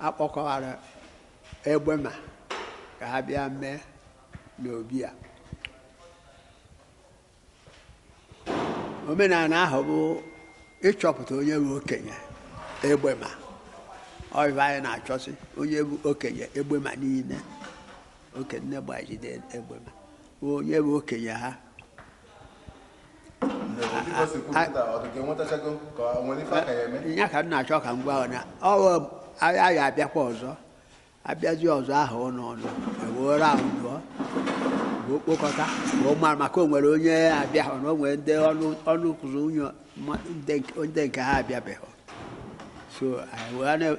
A kpọkọwara Egbema ka ha bịa mee n'obi a. Omenala ahụ bụ ịchọpụta onye bụ okenye Egbema. Ọ ife anyị na-achọsị onye bụ okenye Egbema niile. Okenye Gbajide Egbema onye bụ okenye ha. ya ka m na-achọ ka m gwa na a ya-abịakwa ọzọ abịazi ọzọ ahụ ụlọ ọnụ ewere ahụ dụọ okpokọta ma ọ mara maka o nwere onye abịahụ o nwere ndị ọnụ kụzụ unyo ndị nke ha abịabeghị so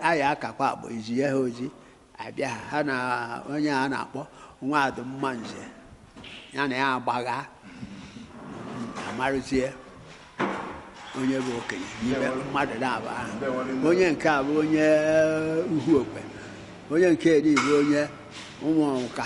anyị akakwa akpọ izi ya ha ozi abịa ha na onye a na-akpọ nwadụ mmanze ya na ya agbagha amarụzie onye bụ okenye n'ime mmadụ naabọ ahụ onye nke a bụ onye uhu okpe onye nke eri bụ onye ụmụ ọnka